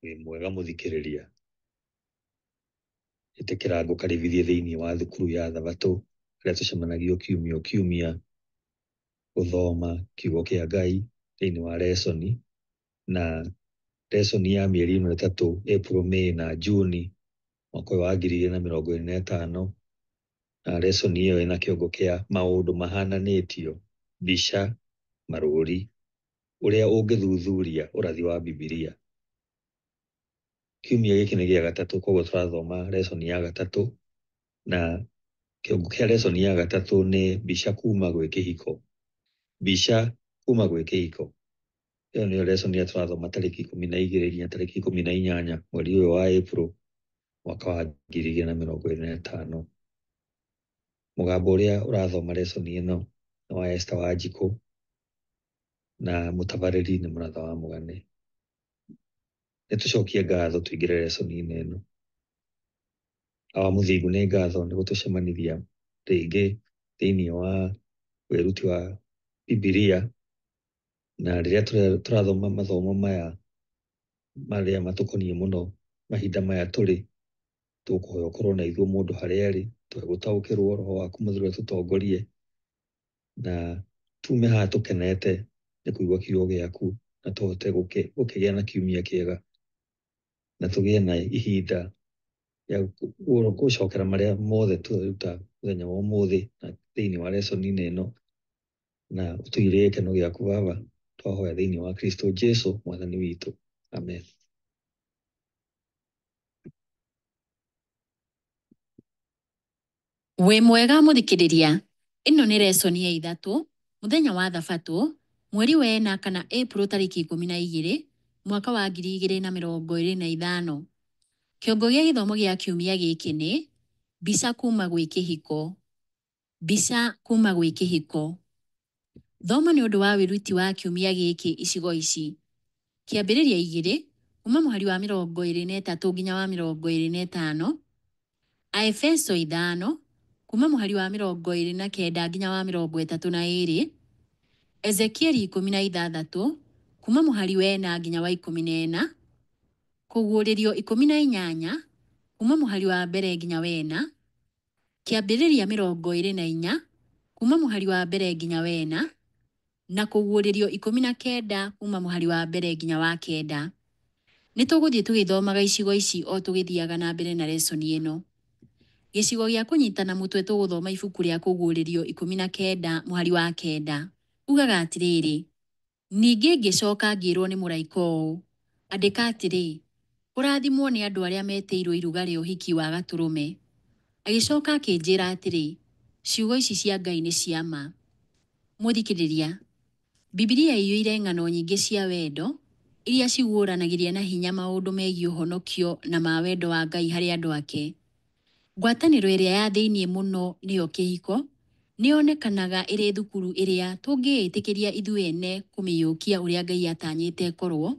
wĩ mwega mũthikĩrĩria ĩtĩkĩra ngũkaribithie thĩinĩ wa thukuru ya thabatũ ĩrĩa tũcemanagio kiumia o kiumia gũthoma kiugo kĩa ngai thĩinĩ wa resoni na resoni ya mĩeri ĩno ĩtatũ april may na june mwaka ũyũ wa ngiri igĩrĩ na mĩrongo ĩrĩ na ĩtano na lesson ĩyo ĩna kĩongo kĩa maũndũ mahananĩtio, mbica, marũũri, ũrĩa ũngĩthuthuria ũrathi wa Bibilia. Kiumia gĩkĩ nĩ gĩa gatatũ kwoguo tũrathoma lesson ya gatatũ na kĩongo kĩa lesson ya gatatũ nĩ mbica kuuma gwĩ kĩhiko. Mbica kuuma gwĩ kĩhiko. Ĩyo nĩyo lesson ĩrĩa tũrathoma tarĩki ikũmi na igĩrĩ nginya tarĩki ikũmi na inyanya mweri ũyũ wa April mwaka wa ngiri igĩrĩ na mĩrongo ĩrĩ na ĩtano. Mũgambo ũrĩa ũrathoma lesson ĩno nĩ wa Esther Wanjikũ na mũtabarĩri nĩ Mũratha wa Mũgane. Nĩ tũcokie ngatho tũingĩre lesson inĩ ĩno. Awa mũthingu nĩ ngatho nĩ gũtũcemanithia rĩngĩ thĩinĩ wa wĩruti wa Bibilia na rĩrĩa tũrathoma mathomo maya marĩa matũkoniĩ mũno mahinda maya tũrĩ, tũkũhoya ũkorwo na ithuĩ mũndũ harĩa arĩ, tũhe gũtaũkĩrwo roho waku mũtheru atũtongorie, na tume haha tũkenete nĩ kũigua kiugo gĩaku na tũhote gũkĩgĩa na kiumia kĩega, na tũgĩe na ihinda rĩa gũcokera marĩa mothe tweruta mũthenya wa ũmũthĩ thĩinĩ wa lesson -inĩ ĩno. na ũtũigĩrĩre gĩkeno gĩaku baba twahoya thĩinĩ wa kristo jesu mwathani witũ amen Wĩ mwega mũthikĩrĩria, ĩno nĩ resoni ya ithatũ, mũthenya wa thabatũ, mweri wa ena kana April tarĩki ikũmi na igĩrĩ, mwaka wa ngiri igĩrĩ na mĩrongo ĩrĩ na ithano. Kĩongo gĩa gĩthomo gĩa kiumia gĩkĩ nĩ, mbica kuma gwĩ kĩhiko. Mbica kuuma gwĩ kĩhĩko. Thoma nĩ ũndũ wa wĩruti wa kiumia gĩkĩ icigo ici. Kĩambĩrĩria igĩrĩ kuuma mũhari wa mĩrongo ĩrĩ na ĩtatũ nginya wa mĩrongo ĩrĩ na ĩtano, Aefeso ithano kuuma mũhari wa mĩrongo ĩrĩ na kenda nginya wa mĩrongo ĩtatũ na ĩrĩ, Ezekieli ikũmi na ithathatũ kuuma mũhari wa ĩna nginya wa ikũmi na ĩna, Kũguũrĩrio ikũmi na inyanya kuuma mũhari wa mbere nginya wa ĩna, kĩambĩrĩria mĩrongo ĩrĩ na inya kuuma mũhari wa mbere nginya wa ĩna, na kũguũrĩrio ikũmi na kenda kuuma mũhari wa mbere nginya wa kenda. Nĩ tũgũthiĩ tũgĩthomaga icigo ici o tũgĩthiaga na mbere na lesson ĩno. Gĩcigo gĩa kũnyita na mũtwe tũgũthoma ibuku rĩa kũguũrĩrio ikũmi na kenda mũhari wa kenda. Ugaga atĩrĩrĩ. Ningĩ ngĩcoka ngĩĩrũo nĩ mũraika ũũ, Andĩka atĩrĩ, 'Kũrathimwo nĩ andũ arĩa metĩirũo iruga rĩa ũhiki wa Gatũrũme. Agĩcoka akĩnjĩra atĩrĩ, Ciugo ici cia Ngai nĩ cia ma. Mũthikĩrĩria, Bibilia ĩiyũire ng'ano nyingĩ cia wendo iria ciguũranagĩria na hinya maũndũ megiĩ ũhonokio na ma wendo wa Ngai harĩ andũ ake. Ngwatanĩro ĩrĩa ya thĩinĩ mũno, nĩyo kĩhiko, nĩ yonekanaga ĩrĩ thukuru ĩrĩa tũngĩĩtĩkĩria ithuĩ ene kũmĩiyũkia ũrĩa Ngai atanyĩte ĩkorũo.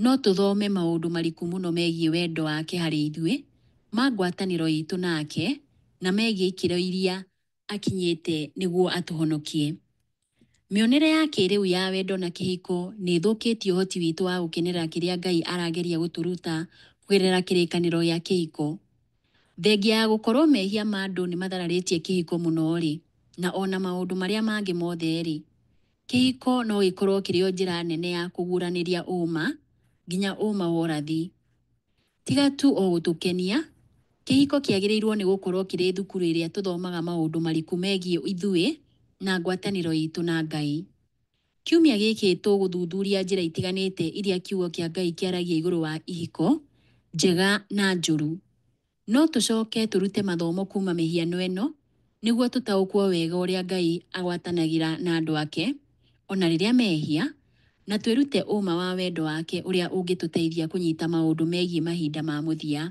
No tũthome maũndũ mariku mũno megiĩ wendo wake harĩ ithuĩ, ma ngwatanĩro itũ nake, na megiĩ ikĩro iria akinyĩte nĩguo atũhonokie. Mĩonere ya kĩĩrĩu ya wendo na kĩhiko nĩ ĩthũkĩtie ũhoti witũ wa gũkenerera kĩrĩa Ngai arageria gũtũruta kũgerera kĩrĩkanĩro gĩa kĩhiko. Thengia ya gũkorũo mehia ma andũ nĩ mathararĩtie kĩhiko mũno-rĩ, na o na maũndũ marĩa mangĩ mothe-rĩ, kĩhiko no gĩkorũo kĩrĩ o njĩra nene ya kũguũranĩria ũũma, nginya ũũma wa ũrathi. Tiga tu o gũtũkenia, kĩhiko kĩagĩrĩirũo nĩ gũkorũo kĩrĩ thukuru ĩrĩa tũthomaga maũndũ mariku megiĩ ithuĩ na ngwatanĩro itũ na Ngai. Kiumia gĩkĩ tũgũthuthuria njĩra itiganĩte iria Kiugo kĩa Ngai kĩaragia igũrũ wa ihiko, njega na njũru. No tũcoke tũrute mathomo kuuma mĩhiano ĩno Nĩguo tũtaũkwo wega ũrĩa Ngai agwatanagĩra na andũ ake o na rĩrĩa mehia, na twĩrute ũũma wa wendo wake ũrĩa ũngĩtũteithia kũnyita maũndũ megiĩ mahinda ma mũthia.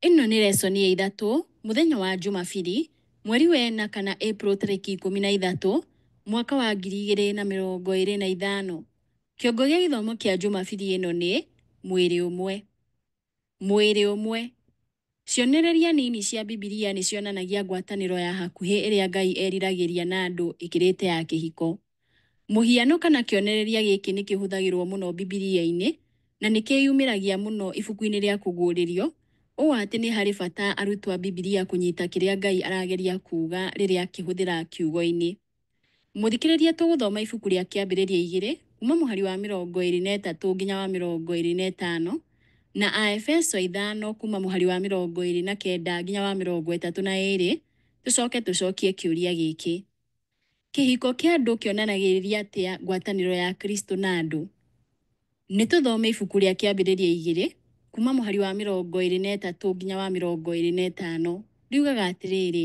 Ĩno nĩ reconi ya ithatũ, mũthenya wa Jumabiri, mweri wa ĩna kana April tarĩki ikũmi na ithatũ, mwaka wa ngiri igĩrĩ na mĩrongo ĩrĩ na ithano. Kĩongo gĩa gĩthomo kĩa Jumabiri ĩno nĩ, Mwĩrĩ Ũmwe. Mwĩrĩ ũmwe. Cionereria nini cia Bibilia nĩ cionanagia ngwatanĩro ya hakuhĩ ĩrĩa Ngai eriragĩria na andũ ĩkĩrĩte ya kĩhiko. Mũhiano kana kĩonereria gĩkĩ nĩ kĩhũthagĩrũo mũno Bibilia-inĩ na nĩ kĩĩyumĩragia mũno ibuku-inĩ rĩa Kũguũrĩrio, ũũ atĩ nĩ harĩ bata arutwo a Bibilia kũnyita kĩrĩa Ngai arageria kuuga rĩrĩa akĩhũthĩra kiugo-inĩ. Mũthikĩrĩria tũgũthoma ibuku rĩa Kĩambĩrĩria igĩrĩ kuuma mũhari wa mĩrongo ĩĩrĩ na ĩtatũ nginya wa mĩrongo ĩĩrĩ na ĩtano na Aefeso ithano kuuma mũhari wa mĩrongo ĩĩrĩ na kenda nginya wa mĩrongo ĩtatũ na ĩĩrĩ tũcoke tũcokie kĩũria gĩkĩ, Kĩhiko kĩa andũ kĩonanagĩrĩria atĩa ngwatanĩro ya Kristo na andũ? Nĩ tũthome ibuku rĩa Kĩambĩrĩria igĩrĩ kuuma mũhari wa mĩrongo ĩĩrĩ na ĩtatũ nginya wa mĩrongo ĩĩrĩ na ĩtano. Riugaga atĩrĩrĩ,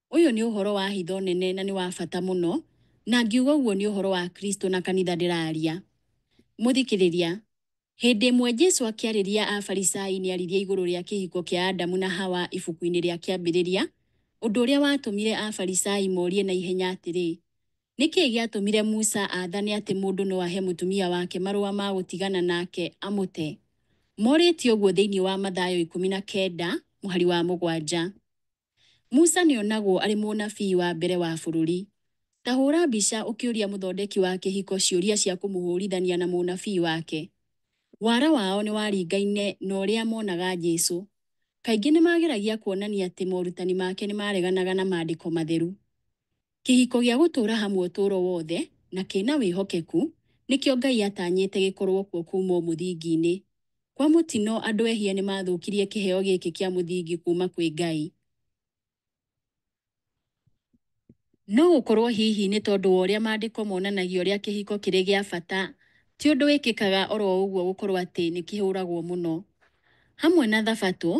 Ũyũ nĩ ũhoro wa hitho nene na nĩ wa bata mũno, na ngiuga ũguo nĩ ũhoro wa Kristo na kanitha ndĩraria. Mũthikĩrĩria, Hĩndĩ ĩmwe Jesu akĩarĩria Afarisai nĩ aririe igũrũ rĩa kĩhiko kĩa Adamu na Hawa ibuku-inĩ rĩa Kĩambĩrĩria, ũndũ ũrĩa watũmire Afarisai morie na ihenya atĩrĩ, Nĩ kĩĩ gĩatũmire Musa aathane atĩ mũndũ no ahe mũtumia wake marũa ma gũtigana nake, amũte? Morĩtie ũguo thĩinĩ wa Mathayo ikũmi na kenda, mũhari wa mũgwanja. Musa nĩ onagwo arĩ mũnabii wa mbere wa bũrũri. Ta hũũra mbica ũkĩũria mũthondeki wa kĩhiko ciũria cia kũmũhũũrithania na mũnabii wake. Wara wao nĩ waringaine na ũrĩa monaga Jesu. Kaingĩ nĩ maageragia kuonania atĩ morutani make nĩ maareganaga na Maandĩko Matheru. Kĩhiko gĩa gũtũũra hamwe ũtũũro wothe na kĩ na wĩhokeku nĩkĩo Ngai atanyĩte gĩkorũo kuo kuuma o mũthingi-inĩ. Kwa mũtino, andũ ehia nĩ maathũkirie kĩheo gĩkĩ kĩa mũthingi kuuma kwĩ Ngai. No gũkorũo hihi nĩ tondũ wa ũrĩa Maandĩko monanagia ũrĩa kĩhiko kĩrĩ gĩa bata, ti ũndũ wĩkĩkaga o ro ũguo gũkorũo atĩ nĩ kĩhũragwo mũno. Hamwe na Thabatũ,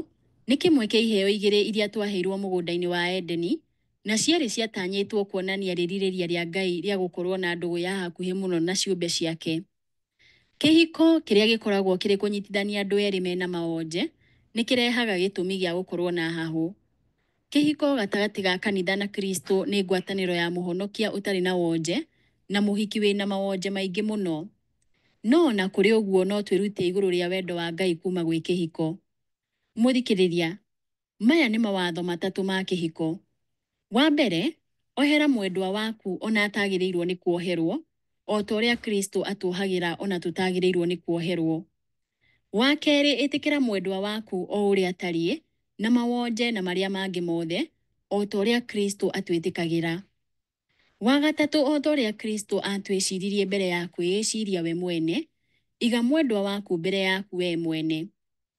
nĩ kĩmwe kĩa iheo igĩrĩ iria twaheirũo mũgũnda-inĩ wa Edeni, na ciarĩ ciatanyĩtwo kuonania rĩrirĩria rĩa Ngai rĩa gũkorũo na ndũgũ ya hakuhĩ mũno na ciũmbe ciake. Kĩhiko, kĩrĩa gĩkoragwo kĩrĩ kũnyitithania andũ erĩ me na mawonje, nĩ kĩrehaga gĩtũmi gĩa gũkorũo na hahũ. Kĩhiko gatagatĩ ga kanitha na Kristo nĩ ngwatanĩro ya Mũhonokia ũtarĩ na wonje na mũhiki wĩ na mawonje maingĩ mũno. No o na kũrĩ ũguo no twĩrute igũrũ rĩa wendo wa Ngai kuuma gwĩ kĩhiko. Mũthikĩrĩria, Maya nĩ mawatho matatũ ma kĩhiko. Wa mbere, ohera mwendwa waku o na atagĩrĩirũo nĩ kuoherũo, o ta ũrĩa Kristo atuohagĩra o na tũtagĩrĩirũo nĩ kuoherũo. Wa kerĩ, ĩtĩkĩra mwendwa waku o ũrĩa atariĩ, na mawonje na marĩa mangĩ mothe, o ta ũrĩa Kristo atwĩtĩkagĩra. Wa gatatũ, o ta ũrĩa Kristo aatwĩciririe mbere ya kwĩĩciria we mwene, iga mwendwa waku mbere yaku wee mwene.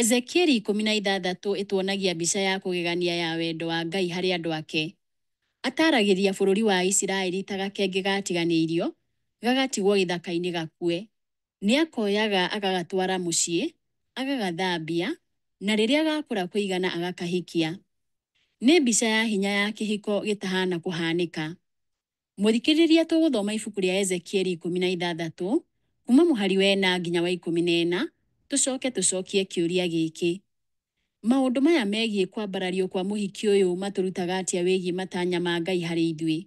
Ezekieli ikũmi na ithathatũ ĩtuonagia mbica ya kũgegania ya wendo wa Ngai harĩ andũ ake. Ataaragĩria bũrũri wa Isiraeli ta gakenge gaatiganĩirio, gagatigwo gĩthaka-inĩ gakue. Nĩ akoyaga agagatwara mũciĩ, agagathambia, na rĩrĩa gakũra kũigana agakahikia. Nĩ mbica ya hinya ya kĩhiko gĩtahaana kũhaanĩka. Mũthikĩrĩria tũgũthoma ibuku rĩa Ezekieli ikũmi na ithathatũ, kuuma mũhari wa ĩna nginya wa ikũmi na ĩna, tũcoke tũcokie kĩũria gĩkĩ, Maũndũ maya megiĩ kwambarario kwa mũhiki ũyũ matũrutaga atĩa wĩgiĩ matanya ma Ngai harĩ ithuĩ?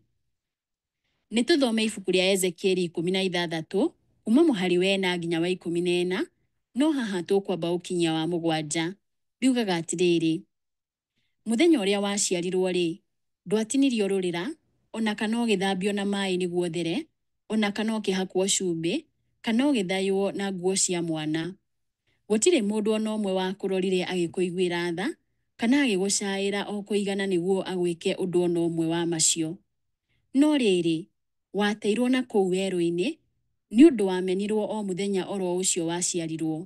Nĩ tũthome ibuku rĩa Ezekieli ikũmi na ithathatũ, kuuma mũhari wa ĩna nginya wa ikũmi na ĩna, no haha tũkwamba ũkinyia wa mũgwanja. Riugaga atĩrĩrĩ, Mũthenya ũrĩa waciarirũo-rĩ, ndwatinirio rũrĩra, o na kana ũgĩthambio na maĩ nĩguo ũthere, o na kana ũkĩhakwo cumbĩ, kana ũgĩthayũo na nguo cia mwana. Gũtirĩ mũndũ o na ũmwe wakũrorire agĩkũiguĩra tha, kana agĩgũcaaĩra o kũigana nĩguo agwĩke ũndũ o na ũmwe wa macio. No rĩrĩ, wateirũo na kũu werũ-inĩ, nĩ ũndũ wamenirũo o mũthenya o ro ũcio waciarirũo.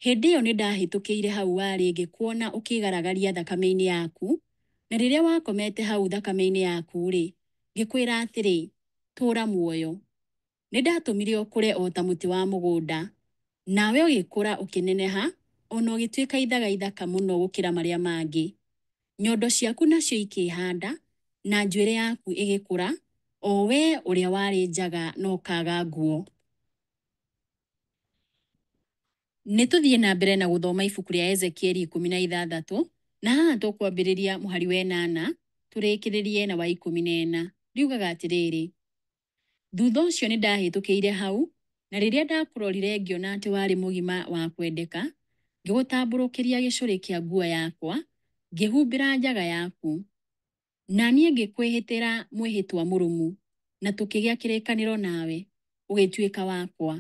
Hĩndĩ ĩyo nĩndahĩtũkĩire hau warĩ ngĩkuona ũkĩĩgaragaria thakame-inĩ yaku, na rĩrĩa wakomete hau thakame-inĩ yaku-rĩ, ngĩkwĩra atĩrĩ, 'Tũũra muoyo. Nĩndatũmire ũkũre o ta mũtĩ wa mũgũnda, nawe ũgĩkũra ũkĩneneha o na ũgĩtuĩka ithaga ithaka mũno gũkĩra marĩa mangĩ. Nyondo ciaku nacio ikĩĩhanda, na njuĩrĩ yaku ĩgĩkũra, o wee ũrĩa warĩ njaga na ũkaaga nguo. Nĩ tũthiĩ na mbere na gũthoma ibuku rĩa Ezekieli ikũmi na ithathatũ, na haha tũkwambĩrĩria mũhari wa ĩnana tũrĩkĩrĩrie na wa ikũmi na ĩna. Riugaga atĩrĩrĩ, Thutha ũcio nĩ ndahĩtũkĩire hau, na rĩrĩa ndakũrorire ngĩona atĩ warĩ mũgima wa kwendeka, ngĩgũtambũrũkĩria gĩcũrĩ kĩa nguo yakwa, ngĩhumbĩra njaga yaku. na niĩ ngĩkwĩhĩtĩra mwĩhĩtwa mũrũmu, na tũkĩgĩa kĩrĩkanĩro nawe, ũgĩtuĩka wakwa,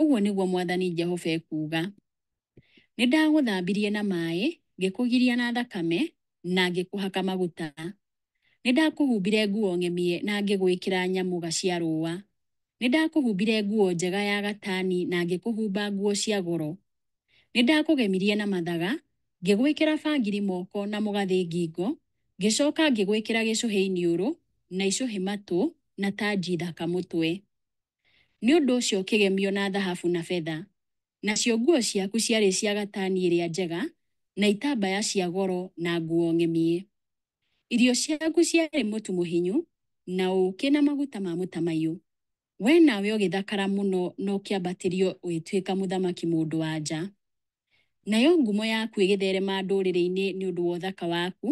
ũguo nĩguo mwathani Jehova ekuuga. Nĩndagũthambirie na maaĩ, ngĩkũgiria na thakame, na ngĩkũhaka maguta. Nĩndakũhumbire nguo ng'emie na ngĩgwĩkĩra nyamũga cia rũũa. Nĩndakũhumbire nguo njega ya gatani na ngĩkũhumba nguo cia goro, Nĩndakũgemirie na mathaga, ngĩgwĩkĩra bangiri moko na mũgathĩ ngingo, ngĩcooka ngĩgwĩkĩra gĩcũhĩ iniũrũ, na icũhĩ matũ, na tanji thaka mũtwe. Nĩ ũndũ ũcio ũkĩgemio na thahabu na betha. Nacio nguo ciaku ciarĩ cia gatani ĩrĩa njega, na itambaya cia goro na nguo ng'emie. Irio ciaku ciarĩ mũtu mũhinyu, na ũũkĩ na maguta ma mũtamaiyũ. Wee nawe ũgĩthakara mũno na ũkĩambatĩrio ũgĩtuĩka mũthamaki mũndũ-wa-nja. Nayo ngumo yaku ĩgĩtherema ndũrĩrĩ-inĩ nĩ ũndũ wa ũthaka waku,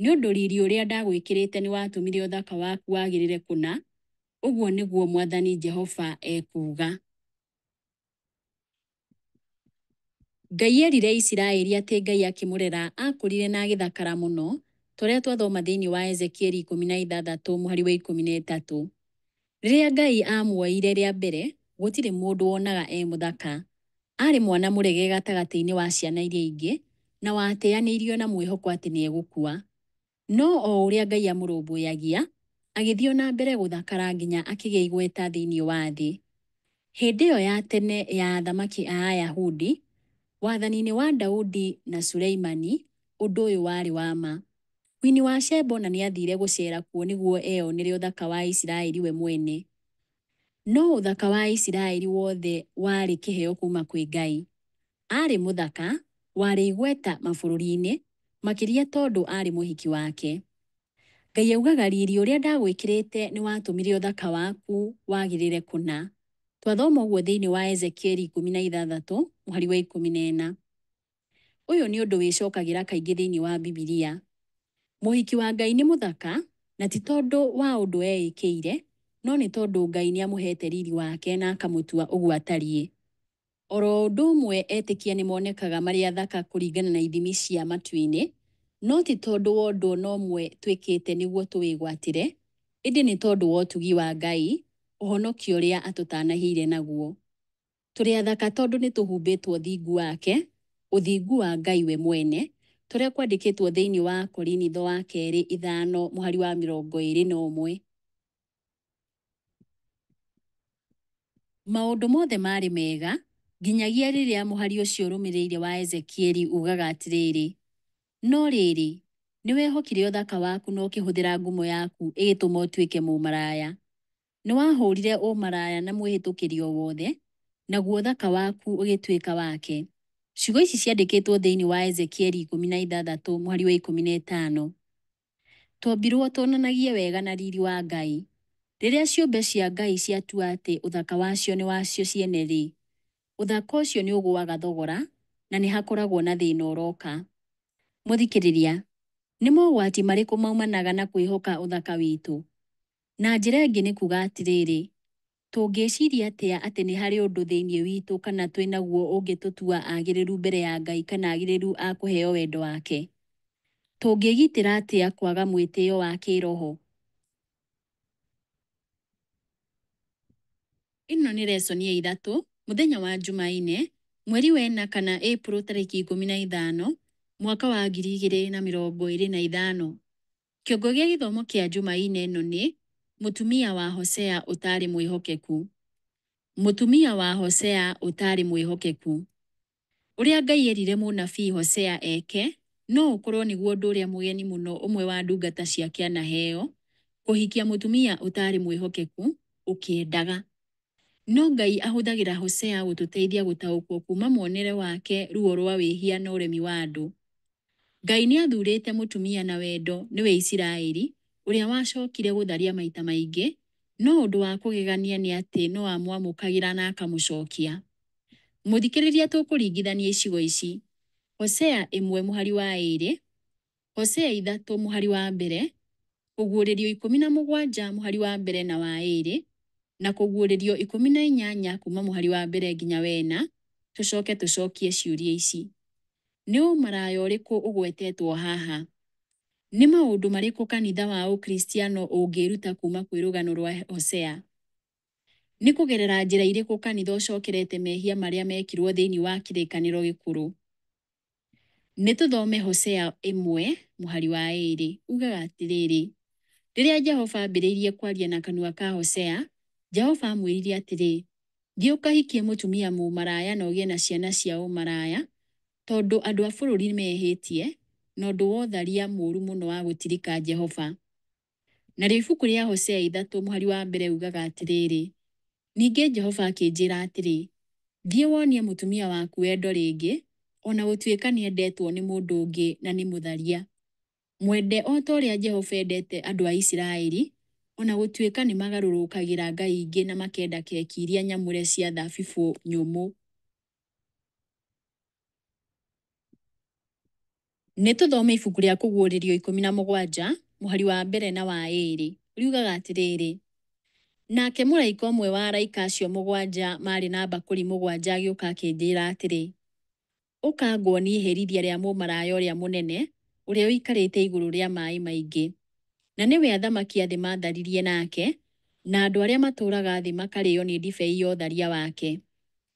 nĩ ũndũ riri ũrĩa ndagwĩkĩrĩte nĩwatũmire ũthaka waku wagĩrĩre kũna, ũguo nĩguo mwathani Jehova ekuuga. Ngai erire Isiraeli atĩ Ngai akĩmũrera akũrire na agĩthakara mũno, ta ũrĩa twathoma thĩinĩ wa Ezekieli ikũmi na ithathatũ mũhari wa ikũmi na ĩtatũ. Rĩrĩa Ngai aamuoire rĩa mbere, gũtirĩ mũndũ wonaga e mũthaka. Aarĩ mwana mũrege gatagatĩ-inĩ wa ciana iria ingĩ, na watĩanĩirio na mwĩhoko atĩ nĩ egũkua. No o ũrĩa Ngai amũrũmbũyagia, agĩthiĩ o na mbere gũthakara nginya akĩgĩa igweta thĩinĩ wa thĩ. Hĩndĩ ĩyo ya tene ya athamaki a Ayahudi, wathani-inĩ wa Daudi na Suleimani, ũndũ ũyũ warĩ wa ma. Kwini wa Sheba o na nĩ aathiire gũceera kuo nĩguo eyonere ũthaka wa Isiraeli we mwene. No ũthaka wa Isiraeli wothe warĩ kĩheo kuuma kwĩ Ngai. aarĩ mũthaka, warĩ igweta mabũrũri-inĩ, makĩria tondũ aarĩ mũhiki wake. Ngai augaga, Riiri ũrĩa ndagwĩkĩrĩte nĩ watũmire ũthaka waku wagĩrĩre kũna. Twathoma ũguo thĩinĩ wa Ezekieli ikũmi na ithathatũ mũhari wa ikũmi na ĩna. Ũyũ nĩ ũndũ wĩcokagĩra kaingĩ thĩinĩ wa Bibilia. Mũhiki wa Ngai nĩ mũthaka, na ti tondũ wa ũndũ eĩkĩire, no nĩ tondũ Ngai nĩ amũheete riiri wake na akamũtua ũguo atariĩ. O ro ũndũ ũmwe etĩkia nĩ monekaga marĩ athaka kũringana na ithimi cia matu-inĩ, no ti tondũ wa ũndũ o na ũmwe twĩkĩte nĩguo tũwĩgwatĩre, ĩndĩ nĩ tondũ wa ũtugi wa Ngai, ũhonokio ũrĩa atũtanahĩire naguo. Tũrĩ athaka tondũ nĩ tũhumbĩtwo ũthingu wake, ũthingu wa Ngai we mwene, ta ũrĩa kwandĩkĩtwo thĩinĩ wa Akorinitho wa Kerĩ ithano mũhari wa mĩrongo ĩĩrĩ na ũmwe. Maũndũ mothe maarĩ mega, nginyagia rĩrĩa mũhari ũcio ũrũmĩrĩire wa Ezekieli uugaga atĩrĩrĩ, No rĩrĩ, nĩ wehokire ũthaka waku na ũkĩhũthĩra ngumo yaku ĩgĩtũma ũtuĩke mũmaraya. Nĩ wahũũrire ũmaraya na mwĩhĩtũkĩri o wothe, naguo ũthaka waku ũgĩtuĩka wake. Ciugo ici ciandĩkĩtwo thĩinĩ wa Ezekieli ikũmi na ithathatũ mũhari wa ikũmi na ĩtano. Twombirũo tuonanagie wega na riri wa Ngai. Rĩrĩa ciũmbe cia Ngai ciatua atĩ ũthaka wacio nĩ wacio ciene-rĩ, ũthaka ũcio nĩ ũgũaga thogora na nĩ hakoragwo na thĩna ũroka. Mũthikĩrĩria, nĩ mogwati marĩkũ maumanaga na kwĩhoka ũthaka witũ? Na njĩra ĩngĩ nĩ kuuga atĩrĩrĩ, Tũngĩciria atĩa atĩ nĩ harĩ ũndũ thĩinĩ witũ kana twĩ naguo ũngĩtũtua agĩrĩru mbere ya Ngai kana agĩrĩru a kũheo wendo wake? Tũngĩĩgitĩra atĩa kwaga mwĩtĩo wa kĩĩroho? Ĩno nĩ reconi ya iratũ, mũthenya wa Jumaine, mweri wa ĩna kana April tarĩki ikũmi na ithano, mwaka wa ngiri igĩrĩ na mĩrongo ĩrĩ na ithano. Kĩongo gĩa gĩthomo kĩa Jumaine ĩno nĩ, Mũtumia wa Hosea Ũtaarĩ Mwĩhokeku. Mũtumia wa Hosea Ũtaarĩ Mwĩhokeku. Ũrĩa Ngai eerire mũnabii Hosea eke no ũkorũo nĩguo ũndũ ũrĩa mũgeni mũno ũmwe wa ndungata ciake anaheo, kũhikia mũtumia ũtaarĩ mwĩhokeku ũkĩendaga. No Ngai ahũthagĩra Hosea gũtũteithia gũtaũkwo kuuma muonere wake ruo rwa wĩhia na ũremi wa andũ. Ngai nĩ athurĩte mũtumia na wendo nĩwe Isiraeli, ũrĩa wacokire gũtharia maita maingĩ, no ũndũ wa kũgegania nĩ atĩ no amwamũkagĩra na akamũcokia. Mũthikĩrĩria tũkũringithania icigo ici, Hosea ĩmwe mũhari wa ĩĩrĩ, Hosea ithatũ mũhari wa mbere, kũguũrĩrio ikũmi na mũgwanja mũhari wa mbere na wa ĩĩrĩ, na kũguũrĩrio ikũmi na inyanya kuuma mũhari wa mbere nginya wa ĩna, tũcoke tũcokie ciũria ici, Nĩ ũmaraya ũrĩkũ ũgwetetwo haha? Nĩ maũndũ marĩkũ kanitha wa Ũkristiano ũngĩĩruta kuuma kwĩ rũgano rwa Hosea? Nĩ kũgerera njĩra irĩkũ kanitha ũcokerete mehia marĩa meekirũo thĩinĩ wa Kĩrĩkanĩro Gĩkũrũ? Nĩ tũthome Hosea ĩmwe mũhari wa ĩĩrĩ. Uugaga atĩrĩrĩ, Rĩrĩa Jehova aambĩrĩirie kwaria na kanua ka Hosea, Jehova aamwĩrire atĩrĩ, Thiĩ ũkahikie mũtumia mũmaraya na ũgĩe na ciana cia ũmaraya, tondũ andũ a bũrũri nĩ mehĩtie na ũndũ wa ũtharia mũũru mũno wa gũtirika Jehova. Narĩo ibuku rĩa Hosea ithatũ mũhari wa mbere riugaga atĩrĩrĩ, Ningĩ Jehova akĩnjĩra atĩrĩ, Thiĩ wonie mũtumia waku wendo rĩngĩ, o na gũtuĩka nĩ endetwo nĩ mũndũ ũngĩ na nĩ mũtharia. Mwende o ta ũrĩa Jehova endete andũ a Isiraeli, o na gũtuĩka nĩ magarũrũkagĩra ngai ingĩ na makenda keki iria nyamũre cia thabibũ nyũmũ. Nĩ tũthome ibuku rĩa Kũguũrĩrio ikũmi na mũgwanja, mũhari wa mbere na wa ĩĩrĩ. Riugaga atĩrĩrĩ, Nake mũraika ũmwe wa araika acio mũgwanja maarĩ na mbakũri mũgwanja agĩũka akĩnjĩĩra atĩrĩ, Ũka nguonie iherithia rĩa mũmaraya ũrĩa mũnene, ũrĩa ũikarĩte igũrũ rĩa maaĩ maingĩ. Na nĩwe athamaki a thĩ maatharirie nake, na andũ arĩa matũũraga thĩ makarĩĩo nĩ ndibei ya ũtharia wake.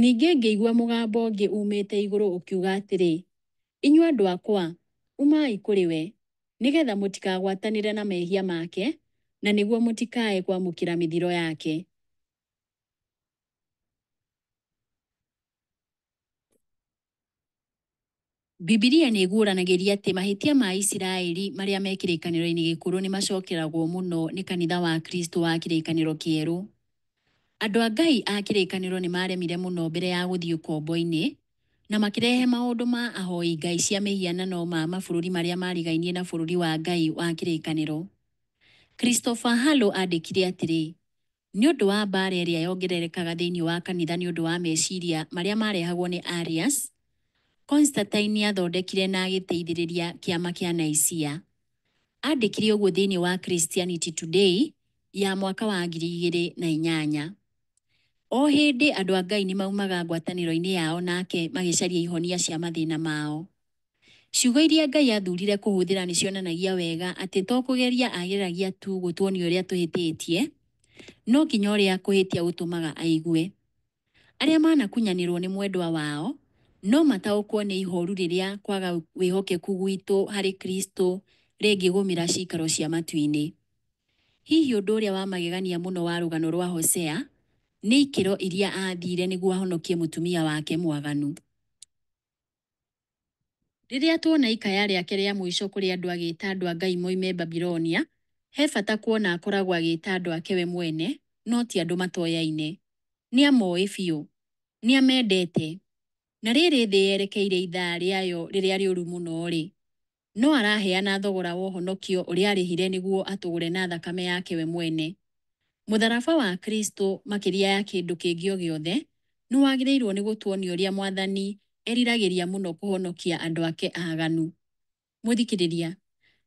Ningĩ ngĩigua mũgambo ũngĩ uumĩte igũrũ ũkiuga atĩrĩ, Inyuĩ andũ akwa, umai kũrĩ we, nĩ geetha mũtikagwatanĩre na mehia make, na nĩguo mũtikae kwamũkĩra mĩthiro yake. Bibilia nĩ ĩguũranagĩria atĩ mahĩtia ma Isiraeli marĩa me kĩrĩkanĩro-inĩ gĩkũrũ nĩ macokeragwo mũno nĩ kanitha wa Kristo wa kĩrĩkanĩro kĩerũ. Andũ a Ngai a kĩrĩkanĩro nĩ maaremire mũno mbere ya gũthiĩ ũkombo-inĩ, na makĩrehe maũndũ ma ahoi ngai cia mĩhianano ma mabũrũri marĩa maarigainie na bũrũri wa Ngai wa kĩrĩkanĩro. Christopher Harlow aandĩkire atĩrĩ, Nĩ ũndũ wa mbaara ĩrĩa yongererekaga thĩinĩ wa kanitha nĩ ũndũ wa meciria marĩa maarehagwo nĩ Arius, Constantine nĩ aathondekire na agĩteithĩrĩria Kĩama kĩa Nicaea. Aandĩkire ũguo thĩinĩ wa Christianity Today ya mwaka wa ngiri igĩrĩ na inyanya. O hĩndĩ andũ a Ngai nĩ maumaga ngwatanĩro-inĩ yao nake magĩcaria ihonia cia mathĩna mao. Ciugo iria Ngai aathuurire kũhũthĩra nĩ cionanagia wega atĩ to kũgeria ageragia tu gũtuonia ũrĩa tũhĩtĩtie, no nginya ũrĩa kũhĩtia gũtũmaga aigue. Arĩa manakunyanĩrũo nĩ mwendwa wao no mataũkwo nĩ ihooru rĩrĩa kwaga wĩhokeku gwitũ harĩ Kristo rĩngĩgũmĩra ciikaro cia matu-inĩ. Hihi ũndũ ũrĩa wa magegania mũno wa rũgano rwa Hosea nĩ ikĩro iria aathiire nĩguo ahonokie mũtumia wake mwaganu. Rĩrĩa tuona ikaya rĩake rĩa mũico kũrĩ andũ agĩĩta andũ a Ngai moime Babilonia, he bata kuona akoragwo agĩĩta andũ ake we mwene, no ti andũ matoyaine. Nĩ amooĩ biũ. Nĩ amendete. Na rĩrĩ thĩ yerekeire ithaa rĩayo rĩrĩa rĩũru mũno-rĩ, No araheana thogora wa ũhonokio ũrĩa arĩhire nĩguo atũgũre na thakame yake we mwene. Mũtharaba wa Kristo, makĩria ya kĩndũ kĩngĩ o gĩothe, nĩ wagĩrĩirũo nĩ gũtuonia ũrĩa Mwathani eriragĩria mũno kũhonokia andũ ake aaganu. Mũthikĩrĩria,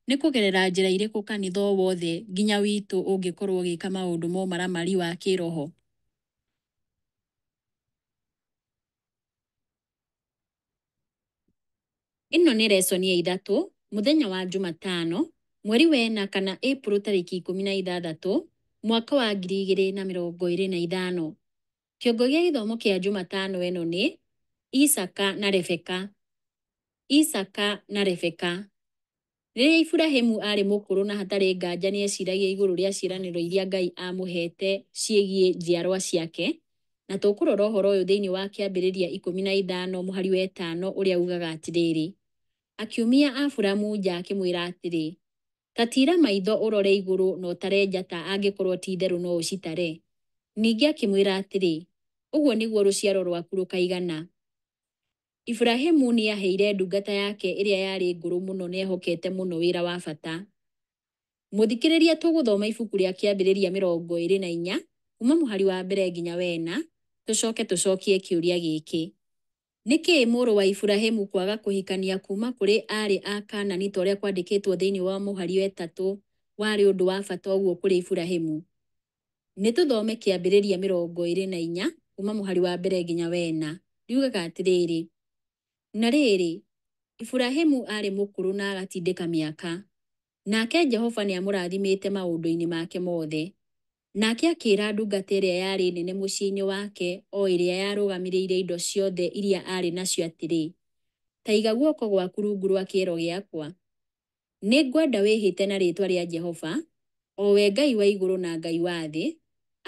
nĩ kũgerera njĩra irĩkũ kanitha o wothe nginya witũ ũngĩkorũo ũgĩka maũndũ ma ũmaramari wa kĩĩroho? Ĩno nĩ resoni ya ithatũ, mũthenya wa Jumatano, mweri wa ĩna kana April tarĩki ikũmi na ithathatũ, mwaka wa ngiri igĩrĩ na mĩrongo ĩrĩ na ithano. Kĩongo gĩa gĩthomo kĩa Jumatano ĩno nĩ, Isaaka na Rebeka. Isaaka na Rebeka. Rĩrĩa Iburahimu aarĩ mũkũrũ na hatarĩ nganja nĩ eeciragia igũrũ rĩa ciĩranĩro iria Ngai aamũheete ciĩgiĩ njiarũa ciake, na tũkũrora ũhoro ũyũ thĩinĩ wa Kĩambĩrĩria ikũmi na ithano mũhari wa ĩtano ũrĩa uugaga atĩrĩrĩ, Akiumia Aburamu nja akĩmwĩra atĩrĩ, Ta tiira maitho ũrore igũrũ na ũtare njata angĩkorũo ti itherũ no ũcitare. Ningĩ akĩmwĩra atĩrĩ, Ũguo nĩguo rũciaro rwaku rũkaigana. Iburahimu nĩ aaheire ndungata yake ĩrĩa yarĩ ngũrũ mũno na ehokete mũno wĩra wa bata. Mũthikĩrĩria tũgũthoma ibuku rĩa Kĩambĩrĩria mĩrongo ĩrĩ na inya kuuma mũhari wa mbere nginya wa ĩna tũcoke tũcokie kĩũria gĩkĩ, Nĩ kĩĩ mũrũ wa Iburahimu kwaga kũhikania kuuma kũrĩ aarĩ a Kaanani ta ũrĩa kwandĩkĩtwo thĩinĩ wa mũhari wa ĩtatũ warĩ ũndũ wa bata ũguo kũrĩ Iburahimu? Nĩ tũthome kĩambĩrĩria mĩrongo ĩrĩ na inya kuuma mũhari wa mbere nginya wa ĩna. Riugaga atĩrĩrĩ, Na rĩrĩ, Iburahimu aarĩ mũkũrũ na agatindĩka mĩaka, nake Jehova nĩ amũrathimĩte maũndũ-inĩ make mothe. Nake akĩĩra ndungata ĩrĩa yarĩ nene mũciĩ-inĩ wake, o ĩrĩa yarũgamĩrĩire indo ciothe iria aarĩ nacio atĩrĩ, Ta iga guoko gwaku rungu rwa kĩero gĩakwa, Nĩ ngwenda wĩhĩte na rĩĩtwa rĩa Jehova, o we Ngai wa igũrũ na Ngai wa thĩ,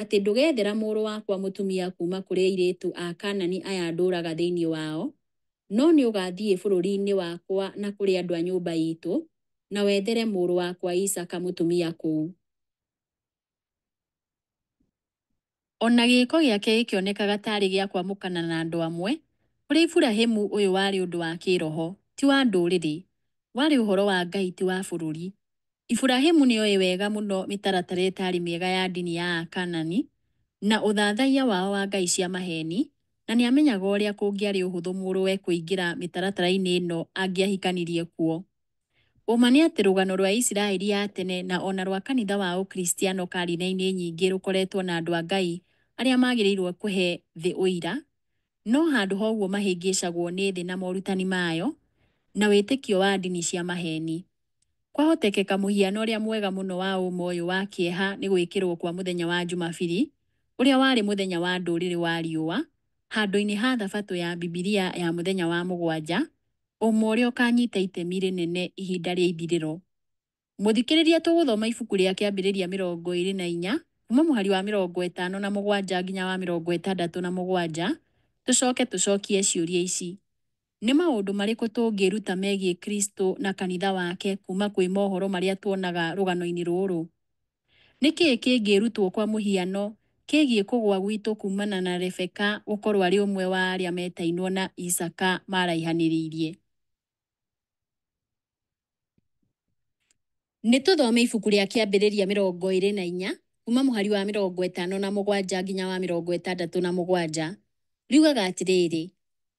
atĩ ndũgeethera mũrũ wakwa mũtumia kuuma kũrĩ airĩtu a Kaanani aya ndũũraga thĩinĩ wao, no nĩ ũgaathiĩ bũrũri-inĩ wakwa na kũrĩ andũ a nyũmba iitũ, na wethere mũrũ wakwa Isaaka mũtumia kũu. O na gĩĩko gĩake gĩkĩonekaga taarĩ gĩa kwamũkana na andũ amwe, kũrĩ Iburahimu ũyũ warĩ ũndũ wa kĩĩroho, ti wa ndũrĩrĩ. Warĩ ũhoro wa Ngai, ti wa bũrũri. Iburahimu nĩ oĩ wega mũno mĩtaratara ĩtaarĩ mĩega ya ndini ya Akanaani na ũthathaiya wao wa ngai cia maheeni, na nĩ amenyaga ũrĩa kũngĩarĩ ũhũthũ mũrũwe kũingĩra mĩtaratara-inĩ ĩno angĩahikanirie kuo. Ũma nĩ atĩ rũgano rwa Isiraeli ya tene na o na rwa kanitha wa Ũkristiano karine-inĩ nyingĩ rũkoretwo na andũ a Ngai arĩa magĩrĩirũo kũhe thĩ ũira, no handũ ha ũguo mahĩngĩcagwo nĩ thĩ na morutani mayo na wĩtĩkio wa ndini cia maheeni. Kwahotekeka mũhiano ũrĩa mwega mũno wa ũma ũyũ wa kĩeha nĩ gwĩkĩrũo kwa mũthenya wa Jumabiri, ũrĩa warĩ mũthenya wa ndũrĩrĩ wa riũa, handũ-inĩ ha Thabatũ ya Bibilia ya mũthenya wa mũgwanja, ũmwe ũrĩa ũkaanyita itemi rĩnene ihinda rĩa ithirĩro. Mũthikĩrĩria tũgũthoma ibuku rĩa Kĩambĩrĩria mĩrongo ĩĩrĩ na inya kuuma mũhari wa mĩrongo ĩtano na mũgwanja nginya wa mĩrongo ĩtandatũ na mũgwanja, tũcoke tũcokie ciũria ici, Nĩ maũndũ marĩkũ tũngĩĩruta megiĩ Kristo na kanitha wake kuuma kwĩ mohoro marĩa tuonaga rũgano-inĩ rũrũ? Nĩ kĩĩ kĩngĩrutwo kwa mũhiano kĩgiĩ kũgũa gwitũ kuumana na Rebeka gũkorũo arĩ ũmwe wa arĩa metainwo na Isaaka maaraihanĩrĩirie? Nĩ tũthome ibuku rĩa Kĩambĩrĩria mĩrongo ĩrĩ na inya kuuma mũhari wa mĩrongo ĩtano na mũgwanja nginya wa mĩrongo ĩtandatũ na mũgwanja. Riugaga atĩrĩrĩ,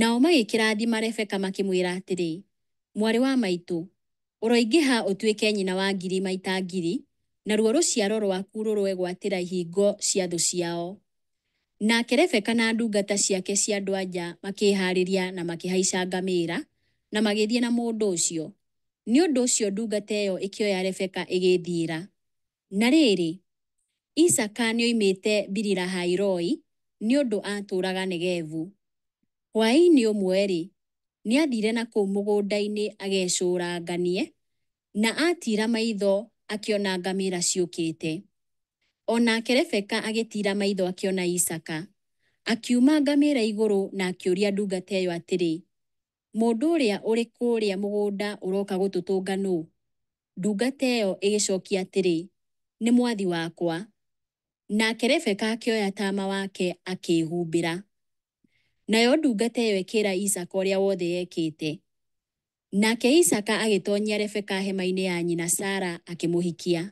Nao magĩkĩrathima Rebeka makĩmwĩra atĩrĩ, Mwarĩ wa maitũ, ũroingĩha ũtuĩke nyina wa ngiri maita ngiri, naruo rũciaro rwaku rũroegwatĩra ihingo cia thũ ciao. Nake Rebeka na ndungata ciake cia andũ-a-nja makĩĩhaarĩria na makĩhaica ngamĩĩra, na magĩthiĩ na mũndũ ũcio. Nĩ ũndũ ũcio ndungata ĩyo ĩkĩoya Rebeka ĩgĩĩthiĩra. Na rĩrĩ, Isaaka nĩoimĩte Biri-lahai-roi, nĩ ũndũ aatũũraga Negevu. Hwaĩ-inĩ ũmwe-rĩ, nĩathiire na kũu mũgũnda-inĩ agecũũranganie, na aatiira maitho akĩona ngamĩra ciũkĩte. O nake Rebeka agĩtiira maitho akĩona Isaaka. Akiuma ngamĩra igũrũ na akĩũria ndungata ĩyo atĩrĩ, Mũndũ ũrĩa ũrĩ kũũrĩa mũgũnda ũroka gũtũtũnga nũũ? Ndungata ĩyo ĩgĩcookia atĩrĩ, Nĩ mwathi wakwa. Nake Rebeka akĩoya taama wake akĩĩhumbĩra. Nayo ndungata ĩyo ĩkĩĩra Isaaka ũrĩa wothe yekĩte. Nake Isaaka agĩtoonyia Rebeka hema-inĩ ya nyina Sara akĩmũhikia.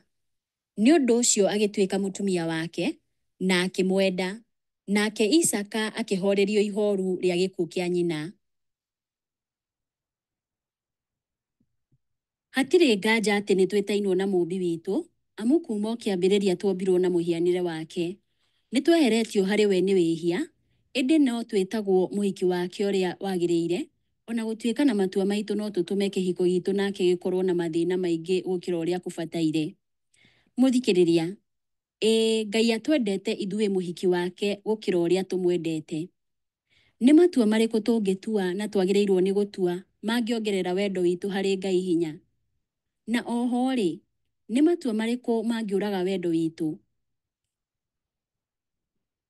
Nĩ ũndũ ũcio agĩtuĩka mũtumia wake, na akĩmwenda. Nake Isaaka akĩhoorerio ihooru rĩa gĩkuũ kĩa nyina. Hatirĩ nganja atĩ nĩ twĩtainwo na Mũũmbi witũ, amu kuuma o kĩambĩrĩria tuombirũo na mũhianĩre wake. Nĩ tweheretio harĩ we nĩ wĩhia, ĩndĩ no twĩtagwo mũhiki wake ũrĩa wagĩrĩire, O na gũtuĩka na matua maitũ no tũtũme kĩhiko gitũ nake gĩkorũo na mathĩna maingĩ gũkĩra ũrĩa kũbataire. Mũthikĩrĩria, Ĩĩ, Ngai atwendete ithuĩ mũhiki wake gũkĩra ũrĩa tũmwendete. Nĩ matua marĩkũ tũngĩtua na twagĩrĩirũo nĩ gũtua mangĩongerera wendo witũ harĩ Ngai hinya? Na o ho-rĩ, nĩ matua marĩkũ mangĩũraga wendo witũ?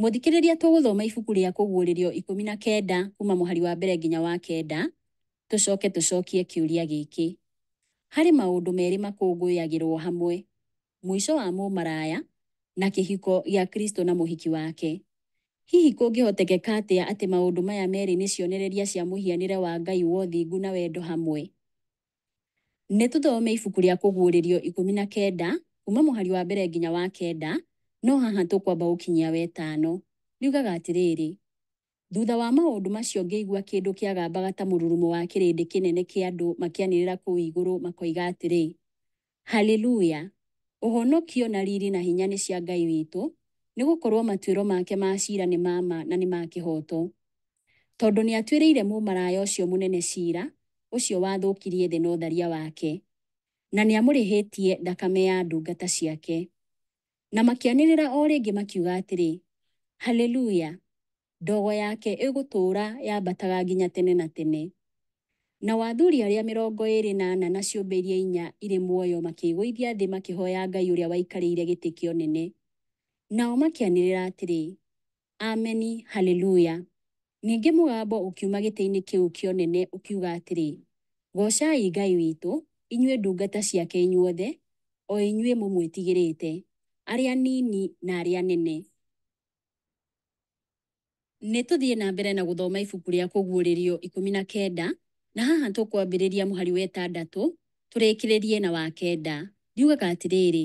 Mũthikĩrĩria tũgũthoma ibuku rĩa Kũguũrĩrio ikũmi na kenda kuuma mũhari wa mbere nginya wa kenda, tũcoke tũcokie kĩũria gĩkĩ, Harĩ maũndũ merĩ makũngũyagĩrũo hamwe, mũico wa mũmaraya na kĩhiko gĩa Kristo na Mũhiki wake, hihi kũngĩhotekeka atĩa atĩ maũndũ maya merĩ nĩ cionereria cia mũhianĩre wa Ngai wa ũthingu na wendo hamwe? Nĩ tũthome ibuku rĩa Kũguũrĩrio ikũmi na kenda kuuma mũhari wa mbere nginya wa kenda, no haha tũkwamba gũkinyia wetano. Riugaga atĩrĩrĩ, Thutha wa maũndũ macio ngĩigua kĩndũ kĩagambaga ta mũrurumo wa kĩrĩndĩ kĩnene kĩa andũ makĩanĩrĩra kũu igũrũ, makoiga atĩrĩ, Haleluya! Ũhonokio, na riri, na hinya nĩ cia Ngai witũ, nĩ gũkorũo matuĩro make ma cira nĩ ma ma na nĩ ma kĩhooto. Tondũ nĩ atuĩrĩire mũmaraya ũcio mũnene cira, ũcio wathũkirie thĩ na ũtharia wake, na nĩ amũrĩhĩtie thakame ya ndungata ciake. na makĩanĩrĩra o rĩngĩ makiuga atĩrĩ, Haleluya! Ndogo yake ĩgũtũũra yambataga nginya tene na tene. Nao athuri arĩa mĩrongo ĩĩrĩ na ana na ciũmbe iria inya irĩ muoyo makĩĩgũithia thĩ makĩhooya Ngai ũrĩa waikarĩire gĩtĩ kĩa ũnene. Nao makĩanĩrĩra atĩrĩ, Ameni! Haleluya! Ningĩ mũgambo ũkiuma gĩtĩ-inĩ kĩu kĩa ũnene ũkiuga atĩrĩ, Goocai Ngai witũ, inyuĩ ndungata ciake inyuothe, o inyuĩ mũmwĩtigĩrĩte, arĩa anini na arĩa anene. Nĩ tũthiĩ na mbere na gũthoma ibuku rĩa Kũguũrĩrio ikũmi na kenda, na haha tũkwambĩrĩria mũhari wa ĩtandatũ tũrĩkĩrĩrie na wa kenda. Riugaga atĩrĩrĩ,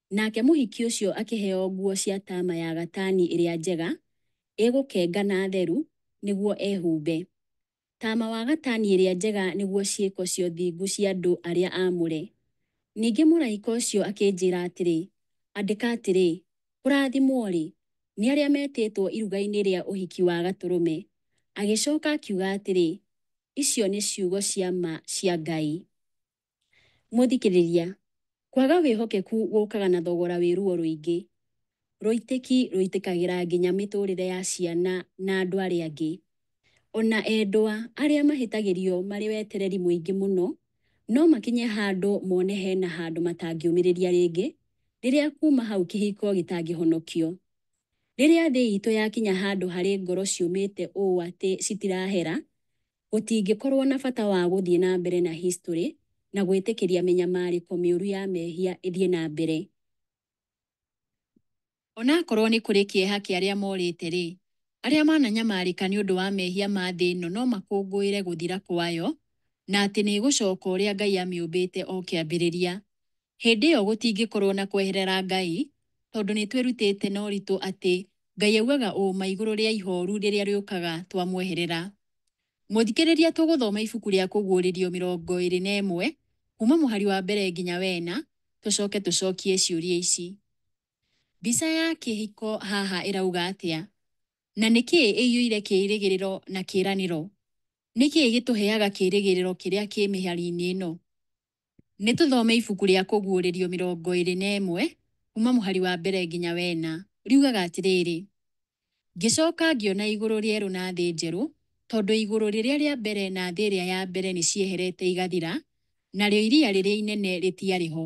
Nake mũhiki ũcio akĩheo nguo cia taama ya gatani ĩrĩa njega, ĩgũkenga na theru, nĩguo ehumbe. Taama wa gatani ĩrĩa njega nĩguo ciĩko cia ũthingu cia andũ arĩa aamũre. Ningĩ mũraika ũcio akĩnjĩĩra atĩrĩ, Andĩka atĩrĩ, Kũraathimwo-rĩ, nĩ arĩa metĩĩtwo iruga-inĩ rĩa ũhiki wa Gatũrũme. Agĩcooka akiuga atĩrĩ, Icio nĩ ciugo cia ma cia Ngai. Mũthikĩrĩria, Kwaga wĩhokeku gũkaga na thogora wĩ ruo rũingĩ. Rũitĩki rũitĩkagĩra nginya mĩtũũrĩre ya ciana na andũ arĩa angĩ. O na endwa arĩa mahĩtagĩrio marĩ wetereri mũingĩ mũno no makinye handũ mone he na handũ matangĩũmĩrĩria rĩngĩ rĩrĩa kuuma hau kĩhiko gĩtangĩhonokio. Rĩrĩa thĩ itũ yakinya handũ harĩ ngoro ciũmĩte ũũ atĩ citirahera, gũtingĩkorũo na bata wa gũthiĩ na mbere na historĩ na gwĩtĩkĩria mĩnyamarĩko mĩũru ya mehia ĩthiĩ na mbere. O na akorũo nĩ kũrĩ kĩeha kĩa arĩa morĩte-rĩ, arĩa mananyamarĩka nĩ ũndũ wa mehia ma thĩ ĩno no makũngũĩre gũthira kwayo na atĩ nĩ ĩgũcoka ũrĩa Ngai amĩũmbĩte o kĩambĩrĩria. Hĩndĩ ĩyo gũtingĩkorũo na kweherera Ngai, tondũ nĩ twĩrutĩte na ũritũ atĩ Ngai augaga ũũma igũrũ rĩa ihooru rĩrĩa rĩũkaga twamweherera. Mũthikĩrĩria tũgũthoma ibuku rĩa Kũguũrĩrio mĩrongo ĩrĩ na ĩmwe kuuma mũhari wa mbere nginya wa ĩna tũcoke tũcokie ciũria ici. Mbica ya kĩhiko haha ĩrauga atĩa? Na nĩ kĩĩ ĩiyũire kĩĩrĩgĩrĩro na kĩĩranĩro? Nĩ kĩĩ gĩtũheaga kĩĩrĩgĩrĩro kĩrĩa kĩ mĩhari-inĩ ĩno? Nĩ tũthome ibuku rĩa Kũguũrĩrio mĩrongo ĩrĩ na ĩmwe kuuma mũhari wa mbere nginya wa ĩna. Riugaga atĩrĩrĩ, Ngĩcoka ngĩona igũrũ rĩerũ na thĩ njerũ, tondũ igũrũ rĩrĩa rĩa mbere na thĩ ĩrĩa ya mbere nĩ cieherete igathira, narĩo iria rĩrĩa inene rĩtiarĩ ho.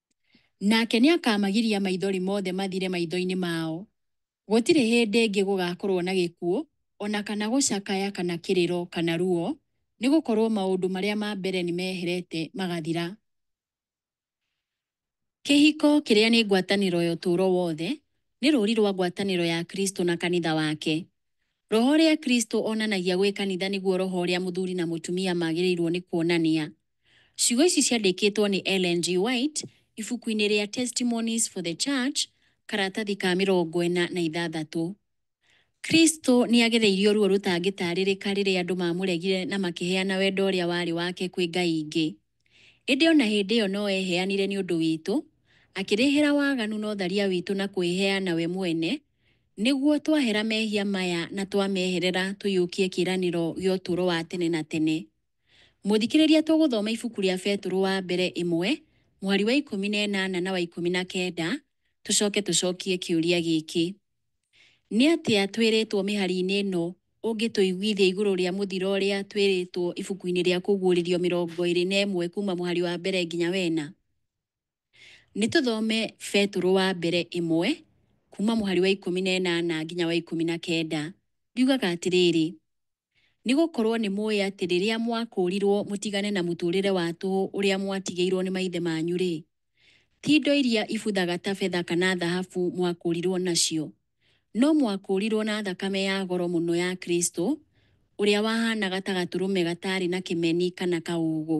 Nake nĩakamagiria maithori mothe mathire maitho-inĩ mao. Gũtirĩ hĩndĩ ĩngĩ gũgakorũo na gĩkuũ, o na kana gũcakaya, kana kĩrĩro, kana ruo, nĩ gũkorũo maũndũ marĩa ma mbere nĩ meherete, magathira. Kĩhiko, kĩrĩa nĩ ngwatanĩro ya ũtũũro wothe, nĩ rũũri rwa ngwatanĩro ya Kristo na kanitha wake. Roho ũrĩa Kristo onanagia gwĩ kanitha nĩguo roho ũrĩa mũthuri na mũtumia magĩrĩirũo nĩ kuonania. Ciugo ici ciandĩkĩtwo nĩ Ellen G. White ibuku-inĩ rĩa Testimonies for the Church, karatathi ka mĩrongo ĩna na ithathatũ. Kristo nĩ agereirio ruo rũtangĩtaarĩrĩka rĩrĩa andũ maamũregire na makĩheana wendo ũrĩa warĩ wake kwĩ ngai ingĩ. Ĩndĩ o na hĩndĩ ĩyo no eheanire nĩ ũndũ witũ, akĩrĩhĩra waganu na ũtharia witũ na kwĩheana we mwene, nĩguo twahera mehia maya na twameherera tũiyũkie kĩĩranĩro gĩa ũtũũro wa tene na tene. Mũthikĩrĩria tũgũthoma ibuku rĩa Betũrũ wa mbere ĩmwe mũhari wa ikũmi na ĩnana na wa ikũmi na kenda tũcoke tũcokie kĩũria gĩkĩ, Nĩ atĩa twĩrĩtwo mĩhari-inĩ ĩno ũngĩtũiguithia igũrũ rĩa mũthiro ũrĩa twĩrĩtwo ibuku-inĩ rĩa Kũguũrĩrio mĩrongo ĩrĩ na ĩmwe kuuma mũhari wa mbere nginya wa ĩna? Nĩ tũthome Betũrũ wa mbere ĩmwe, kuuma mũhari wa ikũmi na ĩnana nginya wa ikũmi na kenda. Riugaga atĩrĩrĩ, Nĩ gũkorũo nĩ mũĩ atĩ rĩrĩa mwakũũrirũo mũtigane na mũtũũrĩre wa tũhũ ũrĩa mwatigĩirũo nĩ maithe manyu-rĩ, ti indo iria ibuthaga ta betha kana thahabu mwakũũrirũo nacio, no mwakũũrirũo na thakame ya goro mũno ya Kristo, ũrĩa wahaanaga ta gatũrũme gataarĩ na kĩmeni kana kaũũgũ.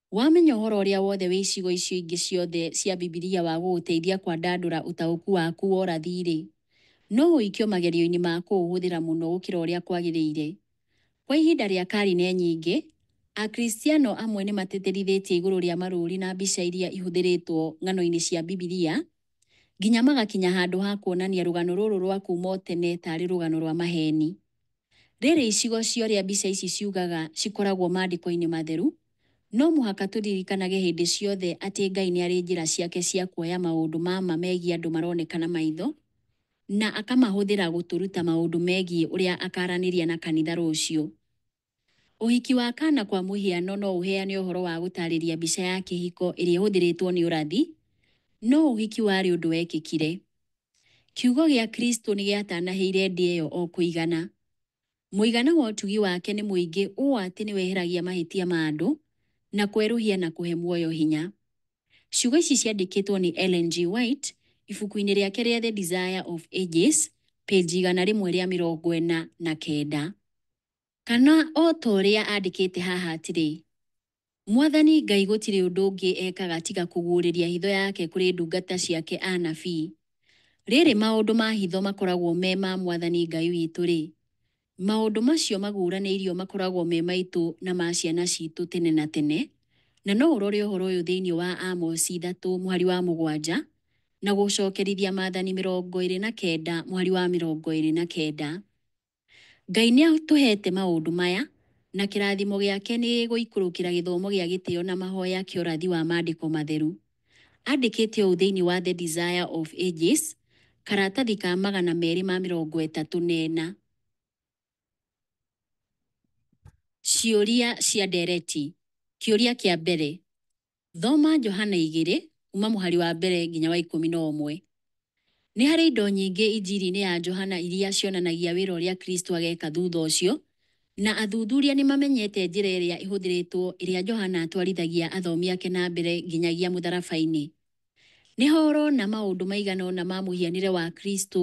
Wamenya ũhoro ũrĩa wothe wĩ icigo icio ingĩ ciothe cia Bibilia wa gũgũteithia kwandandũra ũtaũku waku wa ũrathi-rĩ, no ũikio magerio-inĩ ma kũũhũthĩra mũno gũkĩra ũrĩa kwagĩrĩire. Kwa ihinda rĩa karine nyingĩ, Akristiano amwe nĩ matĩtĩrithĩtie igũrũ rĩa marũũri na mbica iria ihũthĩrĩtwo ng'ano-inĩ cia Bibilia nginya magakinya handũ ha kuonania rũgano rũrũ rwa kuuma o tene ta arĩ rũgano rwa maheeni. Rĩrĩ icigo cia ũrĩa mbica ici ciugaga cikoragwo Maandĩko-inĩ Matheru, no mũhaka tũririkanage hĩndĩ ciothe atĩ Ngai nĩ arĩ njĩra ciake cia kuoya maũndũ ma ma megiĩ andũ maroneka na maitho na akamahũthĩra gũtũruta maũndũ megiĩ ũrĩa akaaranĩria na kanitha rũciũ. Ũhiki wa Kana kwa mũhiano no ũheane ũhoro wa gũtaarĩria mbica ya kĩhiko ĩrĩa ĩhũthĩrĩtwo nĩ ũrathi, no ũhiki warĩ ũndũ wekĩkire. Kiugo gĩa Kristo nĩ gĩatanahĩire ndĩ ĩyo o kũigana. Mũigana wa ũtugi wake nĩ mũingĩ ũũ atĩ nĩ weheragia mahĩtia ma andũ, na kwerũhia na kũhe muoyo hinya. Ciugo ici ciandĩkĩtwo nĩ Ellen G. White ibuku-inĩ rĩake rĩa The Desire of Ages, page igana rĩmwe rĩa mĩrongo ĩna na kenda. Kana o ta ũrĩa andĩkĩte haha atĩrĩ, Mwathani Ngai gũtirĩ ũndũ ũngĩ ekaga tiga kũguũrĩria hitho yake kũrĩ ndungata ciake anabii. Rĩrĩ maũndũ ma hitho makoragwo me ma Mwathani Ngai witũ-rĩ, maũndũ macio maguũranĩirio makoragwo me maitũ na ma ciana citũ tene na tene, na no ũrore ũhoro ũyũ thĩinĩ wa Amosi ithatũ mũhari wa mũgwanja, na gũcokerithia Maathani mĩrongo ĩrĩ na kenda mũhari wa mĩrongo ĩrĩ na kenda. Ngai nĩ atũheete maũndũ maya, na kĩrathimo gĩake nĩ gĩgũikũrũkĩra gĩthomo gĩa gĩtĩo na mahoya kĩa ũrathi wa Maandĩko Matheru. Andĩkĩte ũũ thĩinĩ wa The Desire of Ages, karatathi ka magana merĩ ma mĩrongo ĩtatũ na ĩna. Ciũria cia ndeereti. Kĩũria kĩa mbere, Thoma Johana igĩrĩ kuuma mũhari wa mbere nginya wa ikũmi na ũmwe. Nĩ harĩ indo nyingĩ Injiri-inĩ ya Johana iria cionanagia wĩra ũrĩa Kristo ageeka thutha ũcio, na athuthuria nĩ mamenyete njĩra ĩrĩa ĩhũthĩrĩtwo ĩrĩa Johana atwarithagia athomi ake na mbere nginyagia mũtharaba-inĩ. Nĩ ho ũrona maũndũ maigana ũna ma mũhianĩre wa Kristo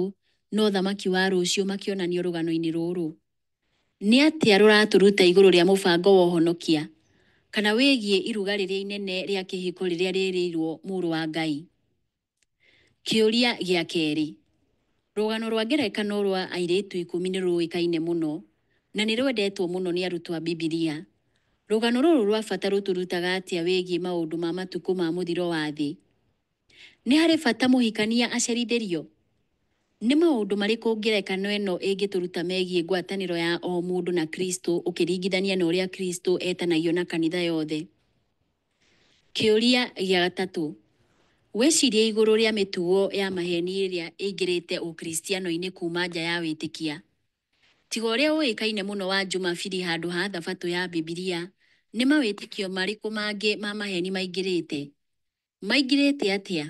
na ũthamaki wa rũciũ makĩonanio rũgano-inĩ rũrũ. Nĩ atĩa rũratũruta igũrũ rĩa mũbango wa ũhonokia, kana wĩgiĩ iruga rĩrĩa inene rĩa kĩhiko rĩrĩa rĩrĩirũo Mũrũ wa Ngai? Kĩũria gĩa kerĩ. Rũgano rwa ngerekano rwa airĩtu ikũmi nĩ rũĩkaine mũno na nĩ rwendetwo mũno nĩ arutwo a Bibilia. Rũgano rũrũ rwa bata rũtũrutaga atĩa wĩgiĩ maũndũ ma matukũ ma mũthiro wa thĩ? Nĩ harĩ bata mũhikania acerithĩrio? Nĩ maũndũ marĩkũ ngerekano ĩno ĩngĩtũruta megiĩ ngwatanĩro ya o mũndũ na Kristo ũkĩringithania na ũrĩa Kristo etanagio na kanitha yothe? Kĩũria gĩa gatatũ, Wĩcirie igũrũ rĩa mĩtugo ya maheeni ĩrĩa ĩingĩrĩte Ũkristiano-inĩ kuuma nja ya wĩtĩkia. Tiga ũrĩa ũĩkaine mũno wa Jumapili handũ ha Thabatũ ya Bibilia, nĩ mawĩtĩkio marĩkũ mangĩ ma maheeni maingĩrĩte? maingĩrĩte atĩa,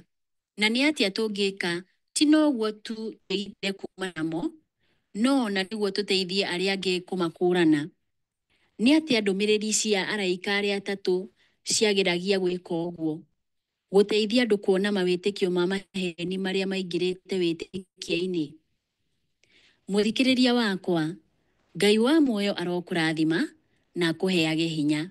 na nĩ atĩa tũngĩka ti noguo tu twĩgitĩre kuuma namo, no na nĩguo tũteithie arĩa angĩ kũmakũũrana? Nĩ atĩa ndũmĩrĩri cia araika arĩa atatũ ciageragia gwĩka ũguo, gũteithia andũ kuona mawĩtĩkio ma maheeni marĩa maingĩrĩte wĩtĩkia-inĩ? Mũthikĩrĩria wakwa, Ngai wa muoyo arokũrathima na akũheage hinya.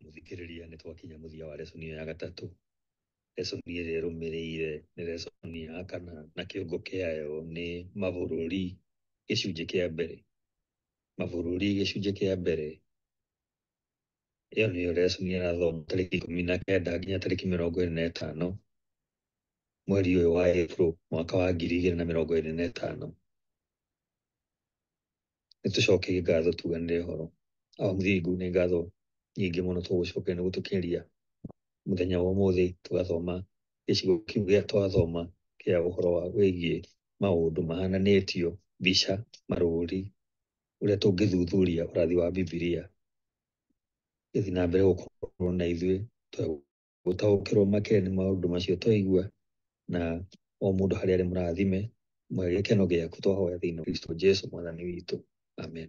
mũthikĩrĩria nĩ twakinya mũthia wa resoni ya gatatũ resoni ĩrĩa ĩrũmĩrĩire nĩ resoni ya kana na kĩongo kĩayo nĩ mabũrũri gĩcunjĩ kĩa mbere mabũrũri gĩcunjĩ kĩa mbere ĩyo nĩyo resoni ĩrathoma tarĩki ikũmi na kenda nginya tarĩki mĩrongo ĩrĩ na ĩtano mweri ũyũ wa April mwaka wa ngiri igĩrĩ na mĩrongo ĩrĩ na ĩtano nĩ tũcokerie ngatho tuganĩre ũhoro awa mũthingu nĩ ngatho nyingĩ mũno tũgũcokeria nĩ gũtũkinyĩria mũthenya wa ũmũthĩ tũgathoma gĩcigo kĩu gĩa twathoma kĩa ũhoro wa wĩgiĩ maũndũ mahananĩtio mbica marũri ũrĩa tũngĩthuthuria ũrathi wa bibilia gĩthiĩ na mbere gũkorwo na ithuĩ twegũ gũtaũkĩrwo makĩria nĩ maũndũ macio twaigua na o mũndũ harĩa arĩ mũrathime gĩkeno gĩaku twahoya thĩinĩ wa Kristo Jesu mwathani witũ amen